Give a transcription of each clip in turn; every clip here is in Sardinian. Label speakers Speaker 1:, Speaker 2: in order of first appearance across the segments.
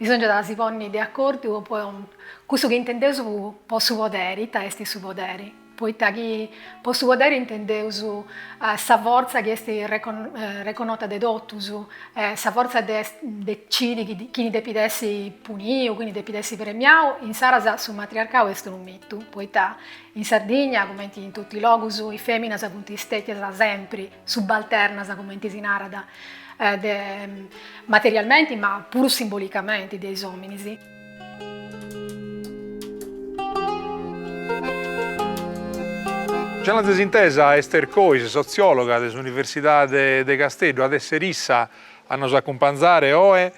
Speaker 1: Bisòngiat a si ponni de acordu po cussu chi intendeus po su poderi, ita est su poderi, poita chi po su poderi intendeus sa fortza chi est reconnota de totus, sa fortza de decidi chini depit essi puniu, chini depit essi premiau, insaras su matriarcau est unu mitu, poita in Sardigna, cumenti in totu is logus, is fèminas funt stètias sempri. subalternas, cumenti si narat, materialmenti ma puru simbolicamenti de is ominis. Gianna Zesintesa Ester Cois, sotziologa de s'Universidade de Casteddu, at essere issa a nos acumpanzare oe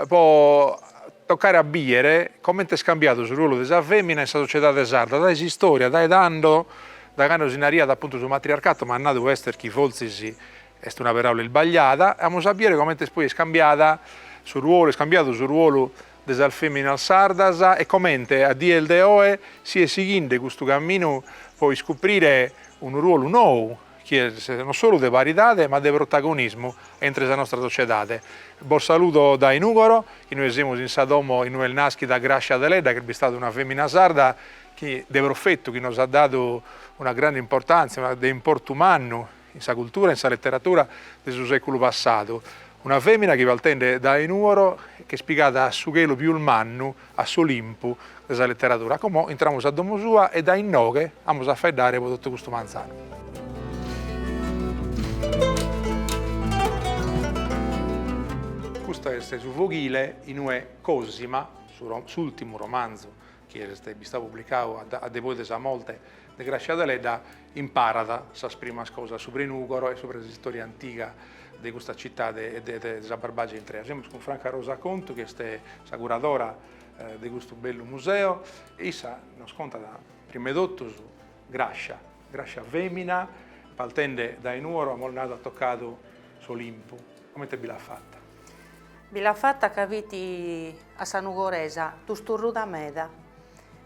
Speaker 1: po tocare a biere coment'est cambiadu su ruolu de sa femina in sa sociedade sarda dae s'istoria, dae tando Dae cando si nariat apuntu su matriarcatu m'at nadu Ester chi fortzis est una peràula isbagliada, amus a biere comente est poi iscambiada su ruolu, iscambiadu su ruolu de sas feminas sardas e comente a die de oe si est sighinde custu caminu po iscuprire unu ruolu nou chi est non solu de paridade ma de protagonismu a intre sa nostra sociedade. Bos saludo dae Nugoro, inoghe semus in sa domo inue est naschida Gràscia Deledda chi est bistada una femina sarda de profetu chi nos at dadu una grande importàntzia, de importu mannu in sa cultura e in sa leteratura de su sèculu passadu, una fèmina chi partende dae Nùoro ch'est pigada a su chelu pius mannu, a s'Olimpu de sa leteratura. Como intramus a domu sua e dae inoghe amus a faeddare po totu custu manzanu. Custu est su foghile in ue Cosima, s'ùrtimu romanzu chi est bistau publicau a depoi de sa morte de Grascia Deledda, imparat sas primas cosas subra Nugoro e subra s'istòria antiga de custa citade e de sa Barbàgia intrea. Semus cun Franca Rosa Contu, chi est sa curadora de custu bellu museu, e issa nos contat, prim' 'e totu, Grascia, Grascia fèmina, partende dae Nuoro, amus nadu at tocadu s'Olimpu. Comente bi l'at fata? Bi l'at fata ca fit a sa nugoresa tusturruda meda.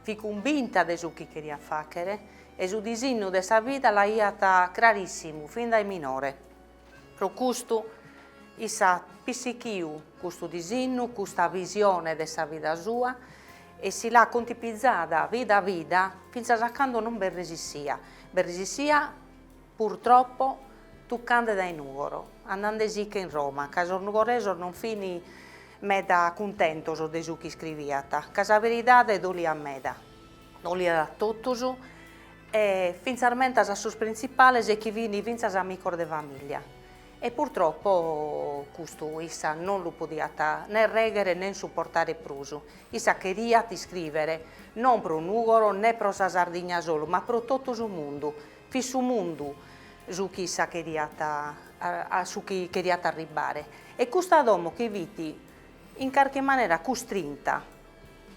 Speaker 1: Fit cumbinta de su chi cheriat fàghere e su disinnu de sa vida l'aiat crarìssimu fin dae minore. Pro custu issa at pissichiu custu disinnu, custa visione de sa vida sua e si l'at contipizada vida a vida fintzas a cando non b'est resissia, b'est resissia Purtroppo, tuccande dae Nùgoro, andandesiche in Roma, ca sos nugoresos non fin meda cuntentos de su chi iscriviat, ca sa beridade doliat meda, doliat a totus, e fintzas mentas a sos printzipales e chi fin fintzas amicos de famìllia. E purtroppo custu issa non lu podiat ne règhere nen suportare prus, issa cheriat iscrìvere non pro Nùgoro ne pro sa Sardigna solu, ma pro totu su mundu, Fit su mundu su chi issa cheriat a su chi cheriat arribbare e custa domo chi fit in carchi manera custrinta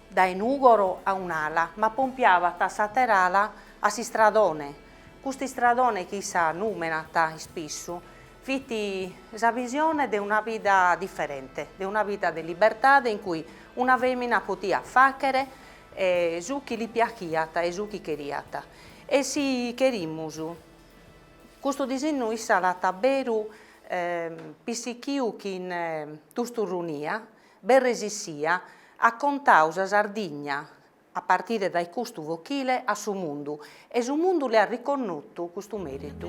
Speaker 1: dae Nugoro a un'ala ma pompiabat s'atera ala a s'istradone, custu istradone chi issa numenat ispissu fit sa visione de una vida diferente, de una vida de libertade in cui una femina potiat fachere su chi li piachiat e su chi cheriat. E si cherimus, custu disinnu issa at a beru pissichiu chin tusturrunia, b'est resissia, at contau sa Sardigna a partire dae custu fochile a su mundu e su mundu l'at riconnotu custu meritu.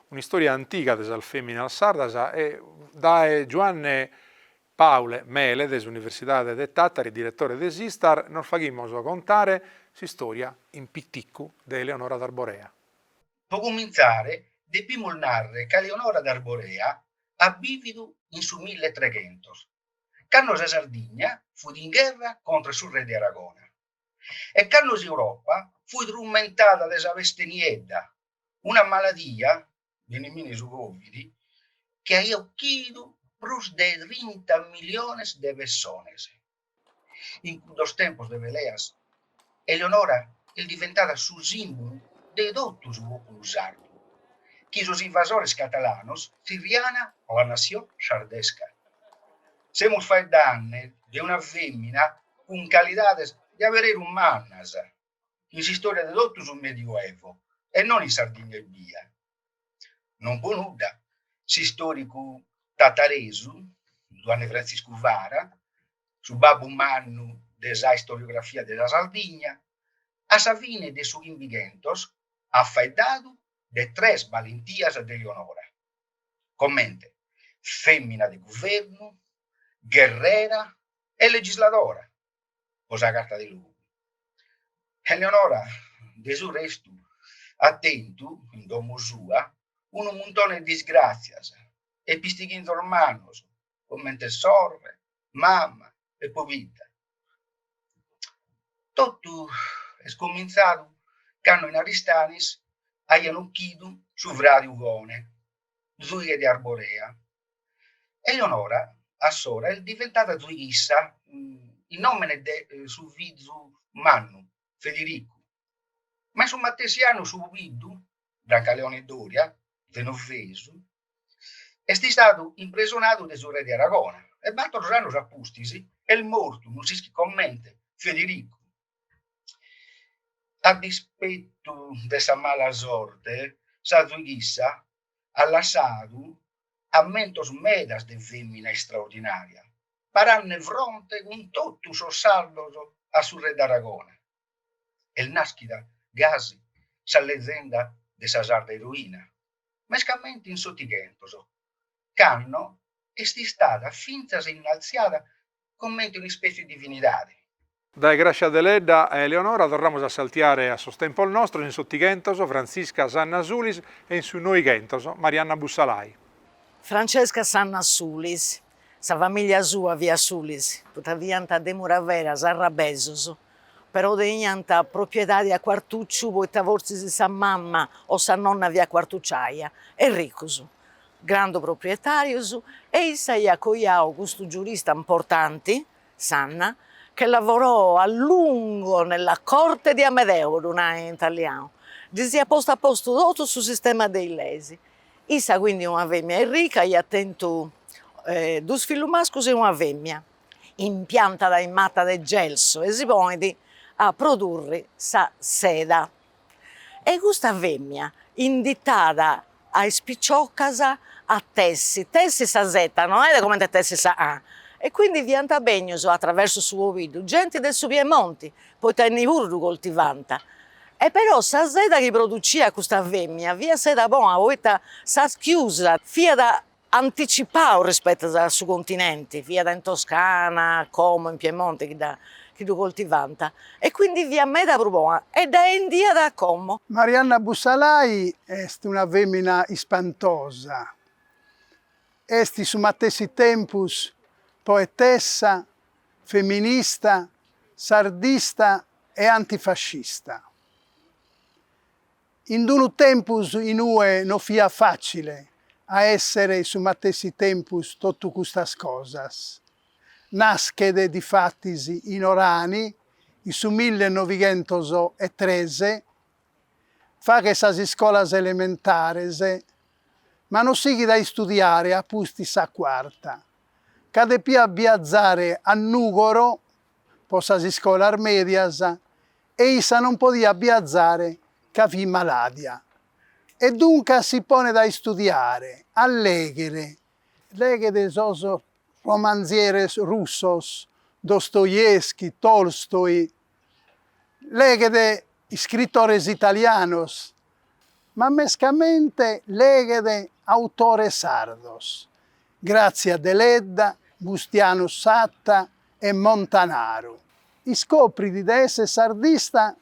Speaker 1: Un'istòria antiga de sas fèminas sardas e dae Giuanne Paule Mele de s'Universidade de Tàtari, diretore de s'Istar, nos faghimus contare s'istòria in piticu de Eleonora d'Arborea. Pro cumintzare depimus narrer ca Eleonora d'Arborea at bìvidu in su milletreghentos, cando sa Sardigna fut in gherra contra su re de Aragona. e cando s'Europa fut trumentada de sa peste niedda, una maladia, beniminne su Covid, chi aiat ochidu prus de trinta miliones de pessones. In cuddos tempos de peleas, Eleonora est diventada su sìmbulu de totu su pòpulu sardu, chi sos invasores catalanos tzirriana La Nació Sardesca. Semus faeddanne de una fèmina cun calidades de abereru mannas in s'istòria de totu su Medioevo e non in Sardigna ebbia. Non po nudda, s'istòricu tataresu Zuanne Frantziscu Fara, su babbu mannu de sa istoriografia de sa Sardigna, a sa fine de su Chimbighentos at faeddadu de tres balentias de Leonora, comente fèmina de guvernu, gherrera e legisladora po sa Carta de Logu. Eleonora, de su restu, at tentu, in domo sua, unu muntone de disgràtzias e pistighinzos mannos comente sorre, mama e pobidda. Totu est comintzadu cando in Aristanis aian uchidu su fradi Ugone, zuighe de Arborea, Eleonora a s'ora est diventada zuighissa in nomene de su fizu mannu Federicu, Ma in su matessi annu su pobiddu, Brancaleone Doria, Genovesu, est istadu impresonadu de su re de Aragona e bator annos a pustis est mortu, non s'ischit comente, Federicu. A dispetu de sa mala sorte, sa zuighissa at lassadu ammentos medas de femina estraordinaria, parande fronte cun totu sos sardos a su re de Aragona, Est nàschida gasi sa lezenda de sa sarda eroina, mescamente in s'Otighentos, cando est istada fintzas innaltziada comente un'ispètzie 'e divinidade. Dae Gràssia Deledda a Eleonora torramus a saltiare a sos tempos nostros, in su Setighentos, Frantzisca Sanna Sulis, e in su Noighentos, Marianna Bussalai. Francesca Sanna Sulis. Sa famìllia sua fiat Sulis, poita fiant de Muravera, sarrabesus, però teniant propriedadi a Cuartucciu poita fortzis sa mama o sa nonna fiat cuartucciaia, e ricus, grandu proprietàrius, e issa aiat coiau custu giurista importanti, Sanna, che lavorò a lungo nella corte di Amedeo, ddu nau in italianu, ddis iat postu a postu totu su sistema de is leis, Issa quindi una femina arrica iat tentu duus fillus mascus e una femina, impiantat is matas de gelsu e si ponit a produrri sa seda e custa femina inditat a is piciocas a tessi, tessi sa seta no est comente a tessi sa lana e quindi fiant bennius atraversu su pobiddu genti de su Piemonti poita inni puru ddu coltivànt E però sa seda chi produciat custa fèmia fiat seda bona poita sa schiusa fiat anticipada rispettu a su continenti, siat in Toscana come in Piemonte chi dda chi ddu coltivànt e quindi fiat meda prus bona e dda 'endiat a Como. Marianna Bussalai est una fèmina ispantosa, est in su matessi tempus poetessa feminista, sardista e antifascista. In d-unu tempus in ue no fiat fàcile a èssere in su matessi tempus totu custas cosas, naschet difatis in Orani in su milli e novighentos e tres faghet sas iscolas elementares, ma no sighit a istudiare a pustis sa cuarta, ca depiat biazare a Nùgoro pro sas iscolas mèdias e issa non podiat biazare ca fit malàdia. E duncas si ponet a istudiare, a lèghere. Leghet sos romanzieres russos, Dostoevsky, Tolstoi, leghet iscritores italianos, ma mescamente leghet autores sardos, Grazia Deledda, Bustianu Satta e Montanaru. Iscoprit de èssere sardista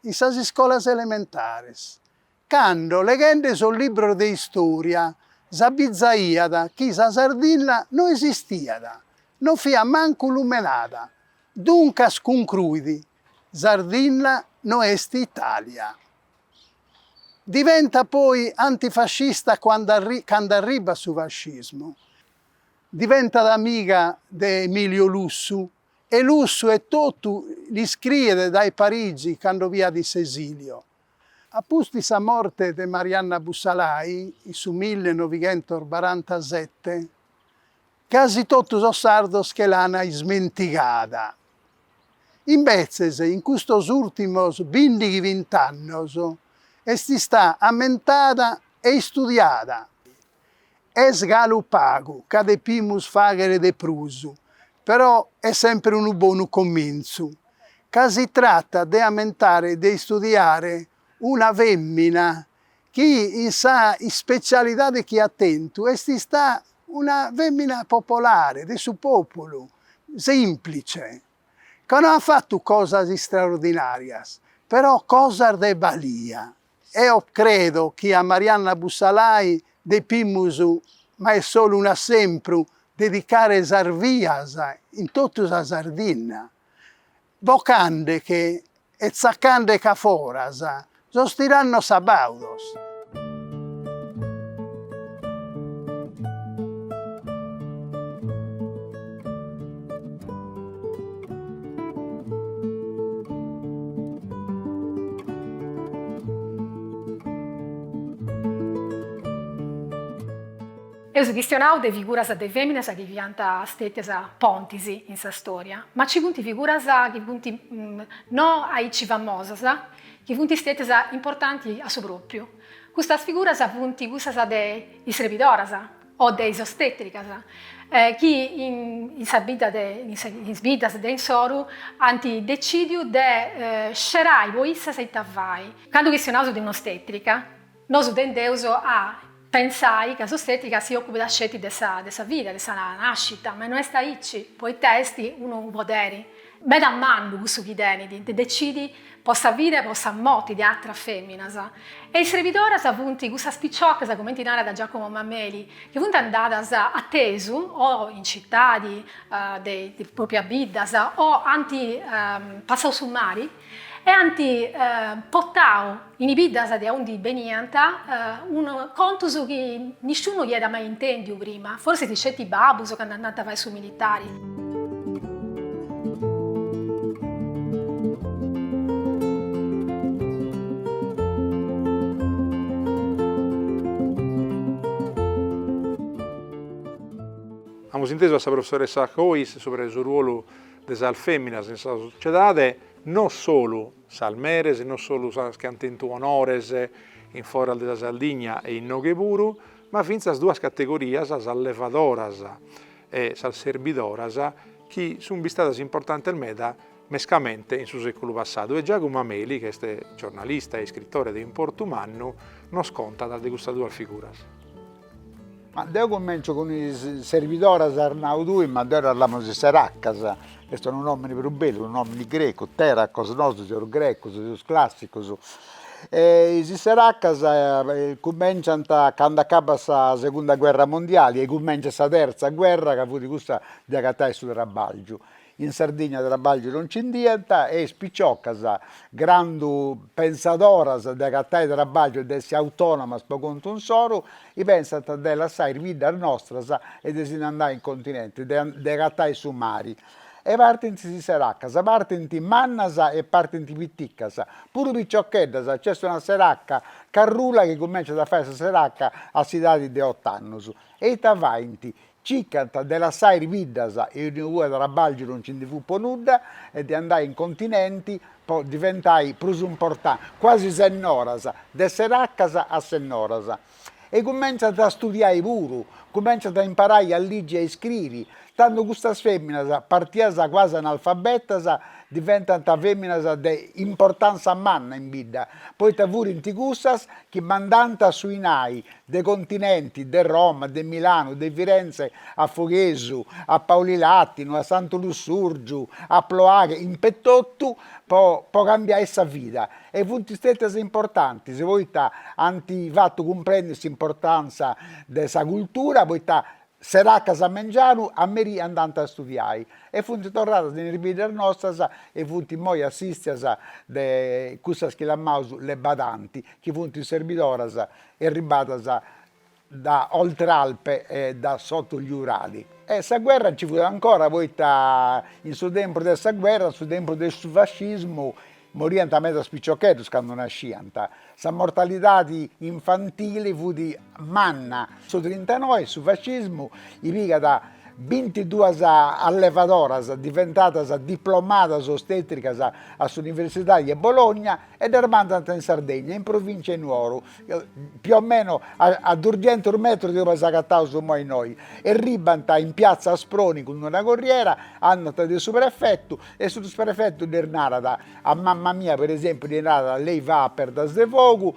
Speaker 1: in sas iscolas elementares Cando, leghende sos libros de istòria, s'abizaiat chi sa Sardinna no esistiat, no fiat mancu lumenada. Duncas cuncruit, Sardinna no est Itàlia. Diventat poi antifascista cando arribat su fascismu. Diventat amiga de Emilio Lussu e Lussu etotu l'iscriet dae Parigi cando fiat in s'esìliu. A pustis sa morte de Marianna Bussalai, in su millenovighentos-barantasette, casi totu sos sardos che l'an ismentigada. Imbetzes, in custos ùrtimos bìndighi-bint'annos est istada ammentada e istudiada. Est galu pagu ca depimus fàghere de prus, però est semper unu bonu comintzu. Ca si tratat de ammentare de istudiare una fèmina chi in sa ispetzialidade chi at tentu est ista una fèmina popolare, de su pòpulu, sèmplice, ca no at fatu cosas istraordinàrias, però cosas de balia. Eo credo chi a Marianna Bussalai depimus, ma est solu un'assempru, dedicare sas vias in totu sa Sardinna, bocandeche e tzacandeche a foras sos tirannos sabaudos. Eus chistionau de figuras de fèminas chi fiant stètias pontis in sa stòria, ma nci funt figuras chi funt no aici famosas chi funt stètias importanti a su pròpriu. Custas figuras funt cussas de is srebidoras, o de is ostètricas, chi in is bidas de insoru ant decìdiu de scerai po issas ita fai. Candu chistionaus de un'ostètrica, nosu tendeus a pensai ca s'ostètrica si òcupidat sceti de sa vida, de sa nàscita, ma no est aici, poita est unu poderi, meda mannu cussu chi tenit de decidi po sa vida e po sa morti de atras feminas. E is serbidoras funt cussas piciocas, cumenti narat Giacomo Mameli, chi funt andadas a tesu o in citadi de is proprias biddas o ant passau su mari e ant portau, in is biddas de aundi beniant, contus chi nisciunu iat mai intèndiu prima, forsis sceti babus candu andant a fai su militari. Amus intesu a sa professoressa Cois subra de su ruolu de sas fèminas in sa sociedade, no solu sas meres, non solu sas chi ant tentu onores in foras de sa Sardigna e innoghe puru, ma fintzas duas categorias, sas levadoras e sas serbidoras, chi sunt bistadas importantes meda mescamente in su sèculu passadu. E Giacomo Mameli, chi est giornalista e iscritore de importu mannu, nos contat de custas duas figuras. Ma deu cumenciu cun is servidoras as nau tui, ma deu ddas lamu is seracas, ch'est unu nomini prus bellu, unu nomini grecu, teracos, nosu seus grecus, seus classicus, e is seracas cumenciant candu acabat sa segunda guerra mondiali e cumenciat sa terza guerra ca fut cussa de agatai su trabalgiu, In Sardigna trabàlgiu non nci nd'iant e is piciocas, grandu pensadoras de agatai trabàlgiu e de essi autònomas po contu insoru, i pensant de lassai is biddas nostras e de si ndi andai in continenti, de agatai su mari. E partint is seracas, partint mannas e partint piticas, puru piciocheddas, nc'est una seraca carrula chi cumènciat a fai sa seraca a s'idadi de ot'annus. E ita faint? Circant de lassai is biddas aundi trabàlgiu non nci ndi fut po nudda e de andai in continenti po diventai prus importantis, quasi sennoras, de seracas a sennoras. E cumentzant a studiai puru, cumentzant a imparai a ligi e a iscriri, tando custas feminas, partias quasi analfabetas, diventant feminas de importanza manna in bidda, poita furint cussas chi mandànt su 'inai de Continenti, de Roma, de Milanu, de Firenze a Foghesu, a Paulilatinu, a Santu Lussurgiu, a Ploaghe, impetotu po cambiai sa vida e funt stètias importantis poita ant fatu cumprendi s'importàntzia de sa cultura poita seraccas a mengianu a merì andànt a studiai e funt torradas in is biddas nostras e funt immoi assistias de cussas chi lamaus le badanti chi funt is serbidoras erribadas da oltralpe e da sotto gli Urali. E sa guerra nci fut ancora, poita in su tempus de sa guerra, su tempus de su fascismu, moriant medas piciocheddus candu nasciant, sa mortalidadi infantili fut manna. Su trintanoe su fascismu pigat bintiduas allevadoras diventadas diplomadas ostetricas a s'universidadi 'e Bologna, e ddas mandat in Sardegna, in provìncia 'e Nuoru, più o meno a durghentos metros de aundi s'agataus imoi innoi, erribant in piatza Asproni cun una corriera, andant de su prefetu e su prefetu ddas narat, a mama mia per esempiu ddi narat, lei va a perdas de fogu,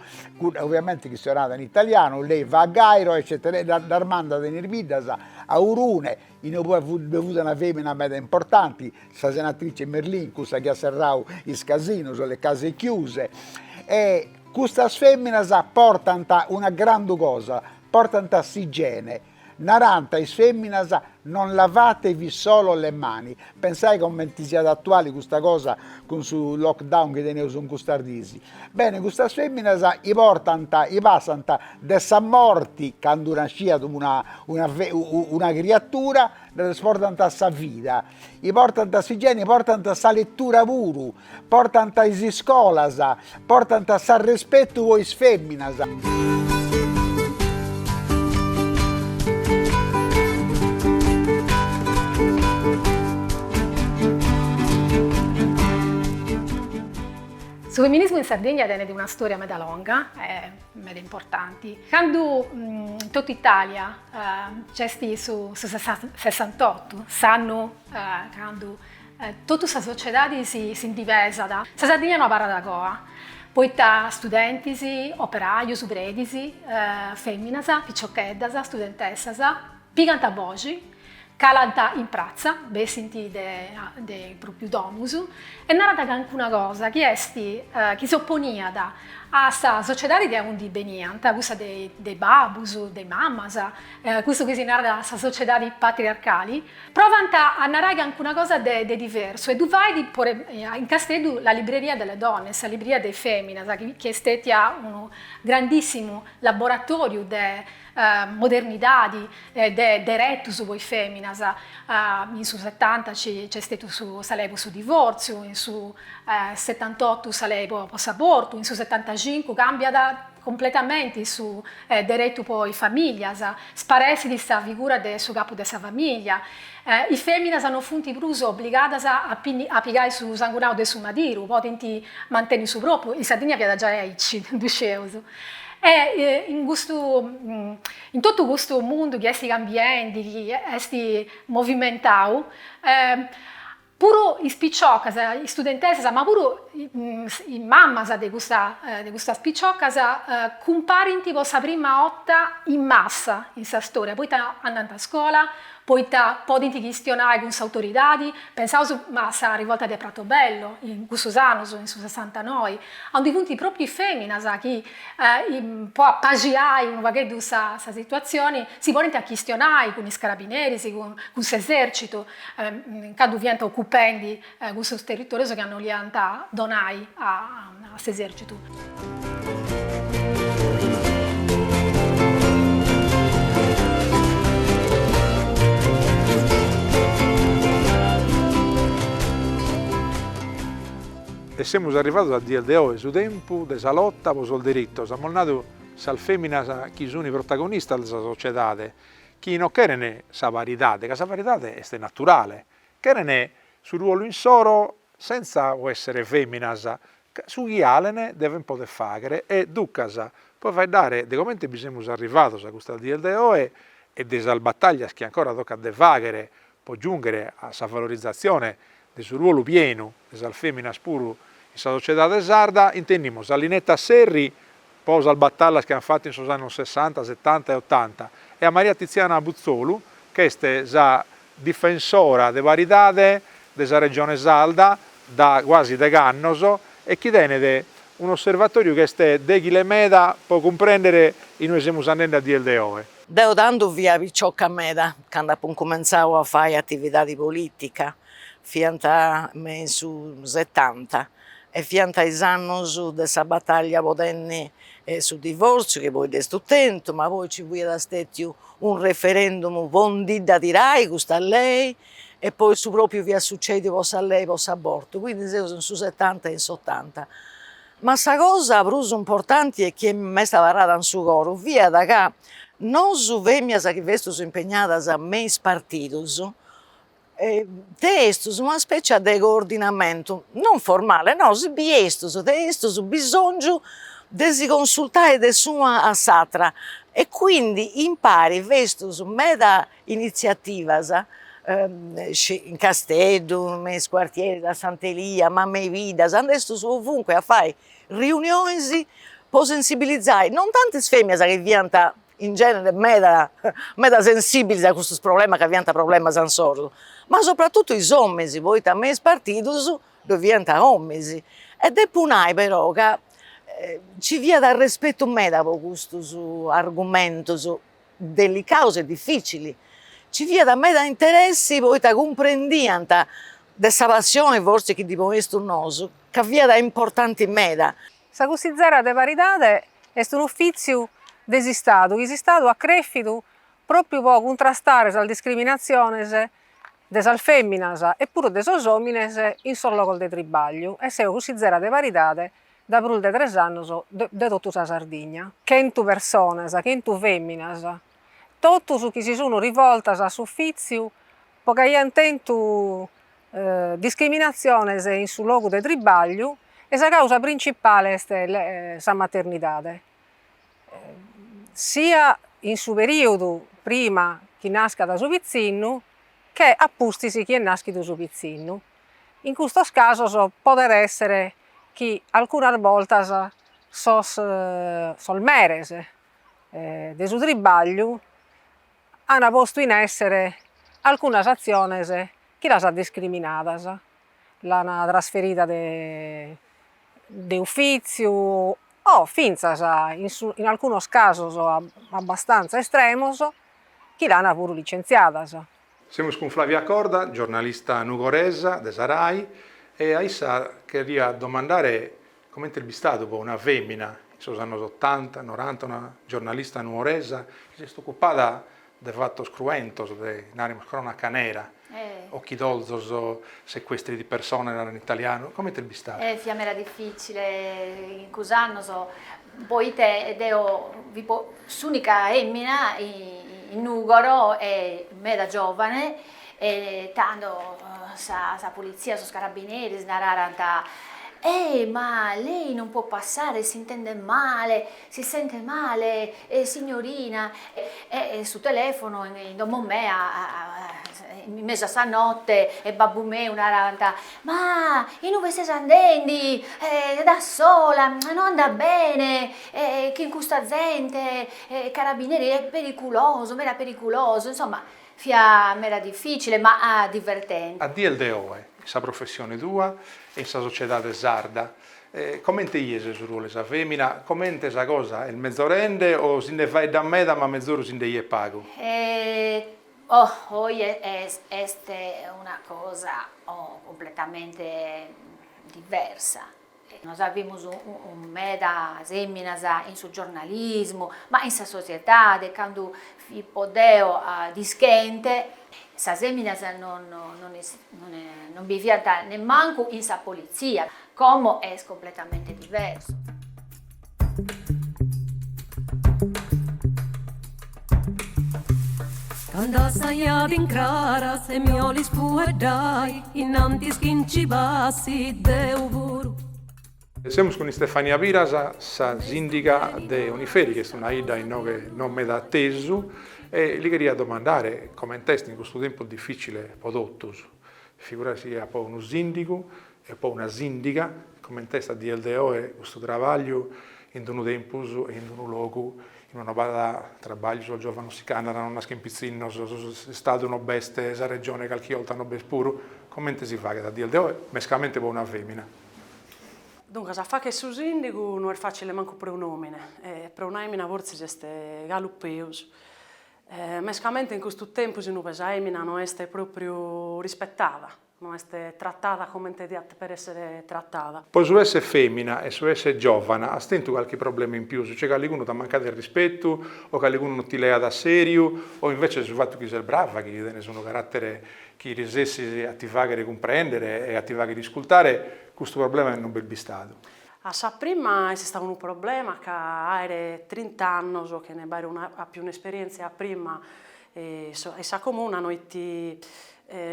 Speaker 1: ovviamente chistionàt in italianu, lei va a Gairo eccetera, ddas mandat in is biddas a Urune, E poi ddoi fut una fèmina meda importanti, sa senatrice Merlin, cussa chi at serrau is casinos, le case chiuse, e custas fèminas portant una grandu cosa, portant s'igiene, narant a is fèminas, non lavatevi solo le mani, pensai comenti siat atuali custa cosa cun su lockdown chi teneus in custas dies, Bene, custas fèminas chi portant, chi passant de sa morti, candu nasciat una una una criatura, ddas portant a sa vida, e portant s'igiene, portant sa letura puru, portant is iscolas, portant s'arrespetu po is fèminas. Su feminismu in Sardigna tenet una storia meda longa e meda importanti. Candu in totu Italia nc'est su Sessantottu, s'annu candu totu sa sociedadi si ndi pesat, sa Sardigna no abarrat a coa, poita studentis, operajus, predis, feminas, piciocheddas, studentessas, Pigant a boxi, calant in pratza, bessint de is pròpiu domus, e narant cancuna cosa chi est chi s'oponiat a sa sociedadi de aundi beniant, cussa de is babus, de is mamas, cussu chi si narat sa sociedadi patriarcali, provant a narai cancuna cosa de diversu, e ddu fait in Casteddu la libreria delle donne, sa libreria de is feminas, chi est stètia unu grandissimu laboratòriu de modernidadi de deretus po is feminas, in su setanta nc'est stetiu sa lei po su divortziu, in su setantotu sa lei po s'abortu, in su setantacincu cambiat completamenti su deretu po is familias, sparessit sa figura de su capu de sa familia, is feminas no funt prus obligadas a pigai su sangunau de su madiru, podint manteni su propriu, in Sardigna fiat giai aici, ddu scieus. E in custu, in totu custu mundu chi est cambiendi, chi est movimentau, puru is piciocas, is studentesas, ma puru is mamas de custas piciocas, cumparint po sa prima 'orta in massa in sa storia, poita andant a scola, poita podint chistionai cun s'autoridadi, pensaus a sa rivolta de Pratobello, in cussus annus, in su sessantanoi, aundi funt propriu is feminas chi, po apaxiai unu pagheddu sa situazioni, si ponint a chistionai cun is carabineris, cun s'esercitu, candu fiant occupendi cussos territòrios ca no 'oliant donai a s'esèrcitu. E semus arrivados a dies de oe, su tempus de sa lota pro sos diritos, amus nadu, sas fèminas chi sun protagonistas de sa sociedade, chi non cheren sa paridade, ca sa paridade est naturale, cheren su ruolu insoro sentza po essere feminas ca su chi alen deven poder faghere e ducas pro faeddare de comente bi semus arrivados a custas dies de oe e de sas battaglias chi ancora tocat de faghere pro giunghere a sa valorizzazione de su ruolu pienu de sas feminas puru in sa sociedade sarda, intendimus a Linetta Serri po sas batallas chi an fattu in sos annos sessanta, setanta e otanta e a Maria Tiziana Putzolu ch'est sa difensora de paridade de sa Regione Sarda da guasi deg'annos e chi tenet un'osservatoriu chi est deghile meda po cumprender in ue semus andende a dies de oe. Deo tando fia picioca meda cando apo incumentzadu a fai atividade politica, fiant me in su setanta E fiant is annus de sa batàllia po tenni su divòrtziu chi poi dd'est tentu, ma poi nci fiat stètiu unu referendum po ndi dda tirai custa lei e poi su pròpriu fiat sucèdiu po sa lei po s'abortu, quindi seus in su setanta e in s'otanta. Ma sa cosa prus importanti e chi m'est abarrada in su coru fiat ca nosu fèminas chi festus impegnadas me is partidus tenestus una specia de coordinamentu, non formale no si biestus tenestus bisòngiu de si consultai de s'una a s'atra e quindi impari festus meda iniziativas in Casteddu, me is quartieris, a Sant'Elia, ma me is biddas, andestus ovunque a fai riunionis po sensibilizai non tanti is feminas chi fiant in genere meda meda sensìbilis a custus problemas ca fiant problemas insoru, ma sopratutu is òminis poita me is partidus ddoi fiant òminis, e depo nai però ca nci fiat arrespetu meda po custus argumentus delicaus e difìcilis, nci fiat meda interessi poita cumprendiant de sa passioni forsis chi ddi ponestus nosu ca fiat importanti meda Sa cussizera de paridade est un'ufìtziu de s'Istadu chi s'Istadu at crèfidu pròpiu pro cuntrastare sas discriminatziones de sas fèminas e puru de sos òmines in sos logos de tribàgliu e seo cussizera de paridade dae prus de tres annos de totu sa Sardigna. Chentu personas, chentu fèminas, totus chi si sun rivoltas a s'ufìtziu po chi aiant tentu discriminatziones in su logu de tribagliu e sa causa principale est sa maternidade. Sia in su perìodu prima chi nascat su pitzinnu che a pustis chi est nàschidu su pitzinnu. In custos casos podet èssere chi alcunas boltas sos meres de su tribagliu ana postu in èssere alcunas atziones chi las ana discriminadas, l'ana trasferida de de ufìtziu o fintzas in su in alcunos casos abbastantza estremos chi l'ana puru licentziadas. Semus cun Flavia Corda, giornalista nugoresa de sa Rai e a issa cherria domandare Comente est bistadu po una fèmina in sos annos otanta, noranta, una giornalista nuoresa chi s'est ocupada de fatos cruentos, de, naremos, cronaca nera, ochidorzos, sequestri di persone, narant in italianu, comente est bistadu? Eh, fiat meda dificile in cussos annos, poite deo fipo s'unica 'emina in Nùgoro e meda giovane E tando sa pulitzia, sos carabineris nararant, Ehi, ma lei non può passare, s'intende male, si sente male, signorina. E su telefono in domo mea, in mesu a sa notte, e babbu meu narant, Ma in ue ses andendi, da sola, non andat bene, chin custa zente, carabineri, è periculoso, meda periculoso. Insomma Fia meda dificile ma divertente. A dies de oe, in sa professione tua e in sa sociedade sarda, comente ies su ruolu 'e sa femina? Comente sa cosa est mezorende o si nde faeddat meda ma mezoru si nde 'iet pagu? Oh, oe est una cosa completamente diversa. Nos avimus medas èminas in su giornalismu, ma in sa sociedade, cando fippo deo dischente, sas èminas non bi fiant nemmancu in sa politzia, como est completamente diversu. Cando assaiat in craras e mi 'olis fueddai innantis chi nci passi deu puru. Semus cun Istefania Piras, sa sìndiga de Oniferi, chi est una 'idda inoghe no meda atesu, e li cheria domandare coment'est in custu tempus difìcile po totus, figura si est po unu sìndigu, e po una sìndiga, comente est a dies de oe custu trabagliu in d-unu tempus e in d-unu logu in ue no b'at trabagliu sos giòvanos si ch'andan no naschen pitzinnos, s'Istadu no b'est, sa Regione calchi 'olta no b'est puru, comente si faghet a dies de oe mescamente po una fèmina? Duncas, a fagher su sìndigu no est fàcile mancu pro un'òmine, e pro una èmina fortzis est galu peus, mescamente in custu tempus in ue sa èmina no est pròpriu rispetada, No est tratada comente diat dèper esser tratada. Pro su esser femina e su esser giovana as tentu calchi problema in pius, cioè calligunu t'at mancadu de rispetu o calligunu no ti leat a seriu o invece su fatu chi ses brava, chi tenes unu carattere chi resessis a ti fagher cumprendere e a ti fagher iscultare, custu problema non b'est bistadu. A sa prima est istadu unu problema ca aer trinta annos chene b'aer una àpiu un'esperientzia prima E sa comuna no it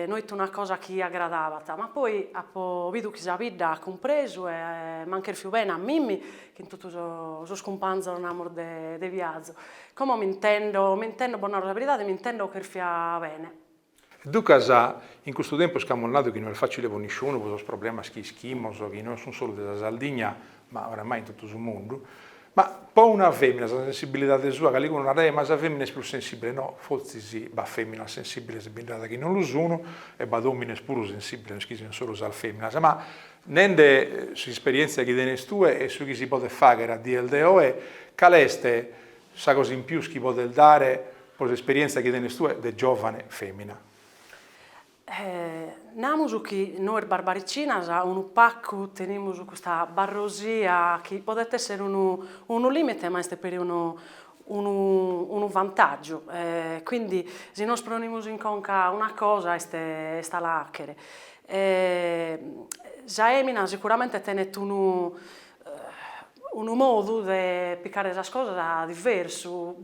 Speaker 1: no it una cosa chi agradabat, ma poi apo bidu chi sa bidda at cumpresu e m'an cherfiu bene a mimmi chin totu sos cumpanzos namus de de viazu. Como m'intendo, m'intendo, bos naro sa beridade, m'intendo cherfia bene. E ducas, in custu tempus chi amus nadu chi no est facile po nisciunu po sos problemas chi ischimus chi no sun solu de sa Sardigna, ma oramai in totu su mundu, ma po una fèmina sa sensibilidade sua calicunu naraiat ma sa fèmina est prus sensìbile, no, fortzis b'at fèminas sensìbiles, bi nd'at chi non lu sunu, e b'at òmines puru sensìbiles, no est chi siant solu sas fèminas, ma nende s'isperièntzia chi tenes tue e su chi si podet fàghere a dies de oe, cale est sa cosa in pius chi podes dare pro s'isperièntzia chi tenes tue de giòvane fèmina? Namus chi nois barbaricinas unu pagu tenimus custa barrosia chi podet esser unu unu limite ma est peri unu unu unu vantaggiu e quindi si nos pronimus in conca una cosa est est a la achere e sa emina sicuramente tenet unu unu modu de picare sas cosas diversu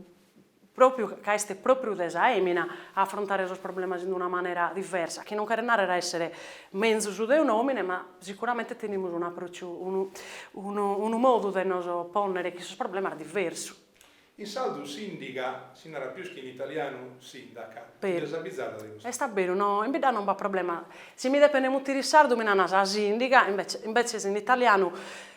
Speaker 1: pròpiu ca est pròpiu de sa èmina a afrontare sos problemas in una manera diversa, chi non cheret nàrrere a èssere menzus de un'òmine, ma sicuramente tenimus un'apròciu, unu unu unu modu de nos pònnere chin sos problemas diversu. In sardu sìndiga si narat pius chi in italianu sindaca, chi nd'est abizada de custa. Est a beru, no, in bidda non b'at problema. Si mi depent mutire in sardu mi nana sa sìndiga, invece invece in italianu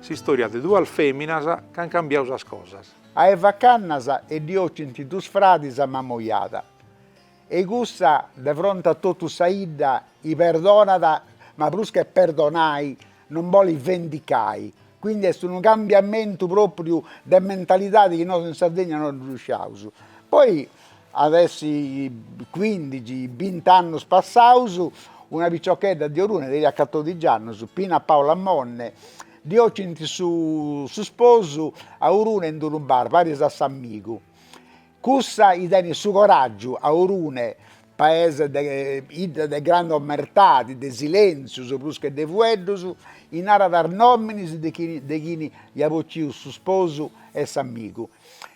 Speaker 1: S'istòria de duas fèminas ch'ant cambiau sas cosas. A Eva Cannas ddi ocint duus fradis a Mamojada e cussa de fronte a totu sa 'idda i perdonat ma prus che perdonai non bolit vendicai, quindi est unu cambiamentu propriu de mentalidadi chi nosu in Sardegna non ddu sciaus. Poi At essi cuindixi, binti annus passaus, una piciochedda de Orune teniat catodixi annus, Pina Paula Monni, ddi ocint su su sposu a Orune in d'unu bar, paris a s'amigu. Cussa i tenit su coragiu a Orune, paese, 'idda de grandu omertadi, de silentzius prus che de fueddus, i narat is nominis de chini de chini iat bociu su sposu e s'amigu,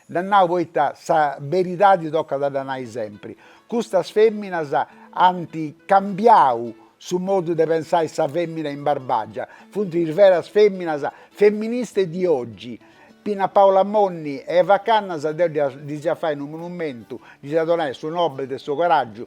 Speaker 1: Dda nau poita sa beridadi tocat a dda nai sempri, custas feminas ant cambiau su modu de pensai sa femina in Barbagia, funt is veras feminas femministe di oggi, Pina Paula Monni e Eva Cannas deu ddis iat fai unu monumentu, ddis iat donai su Nobel de su coragiu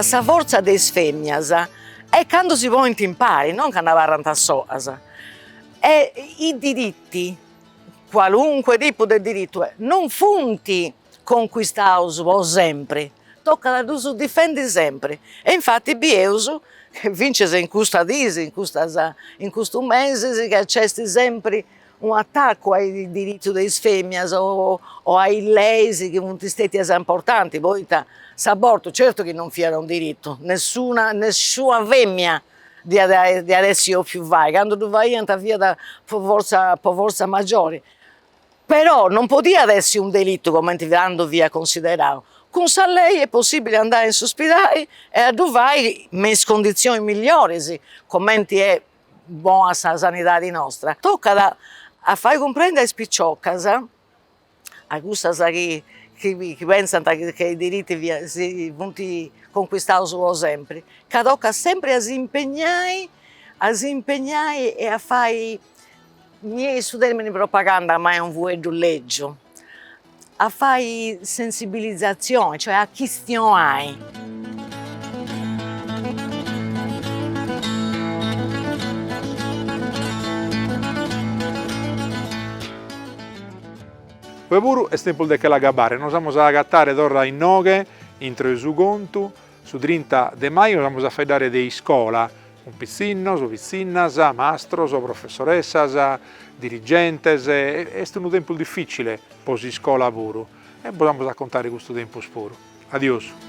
Speaker 1: Sa fortza de is fèminas est cando si ponint impari, non cando abarrant solas, e i diritti, qualunque tipu de dirittu, non funt conquistaus po sempri, tocat a ddus difendi sempri e infati bieus fintzas in custas dís, in custas in custus mesis ca nc'est sempri unu attaccu a is diritzus de is feminas o a is leis chi funt stetias importantis poita s'abortu certu chi non fiat unu diritu, nessuna nessuna femina diat essi bofiu fai, candu ddu faiant fiat po forza po forza maggiori, però non podiat essi unu delitu comente tando fiat considerau, cun sa lei est possibili a andai in s'uspidali e a ddu fai me is cunditzionis millioris, comenti est bona sa sanidadi nostra, tocat a fai cumprendi a is piciocas, a cussas chi chi pensant chi is diritti si funt conquistaus po sempri, ca tocat sempri a s'impegnai, a s'impegnai e a fai, mi 'enit su termini propaganda ma est unu fueddu lègiu a fai sensibilizatzioni, cioè a chistionai. Oe puru est tempus de che l'agabbare, nos amus a agatare torra innoghe intro 'e su contu, Su trinta de maju nos amus a faeddare de iscola, cun pitzinnos, pitzinnas, mastros, professoressas, dirigentes, est unu tempus dificile pro s'iscola puru e bos amus a contare custu tempus puru. Adiosu.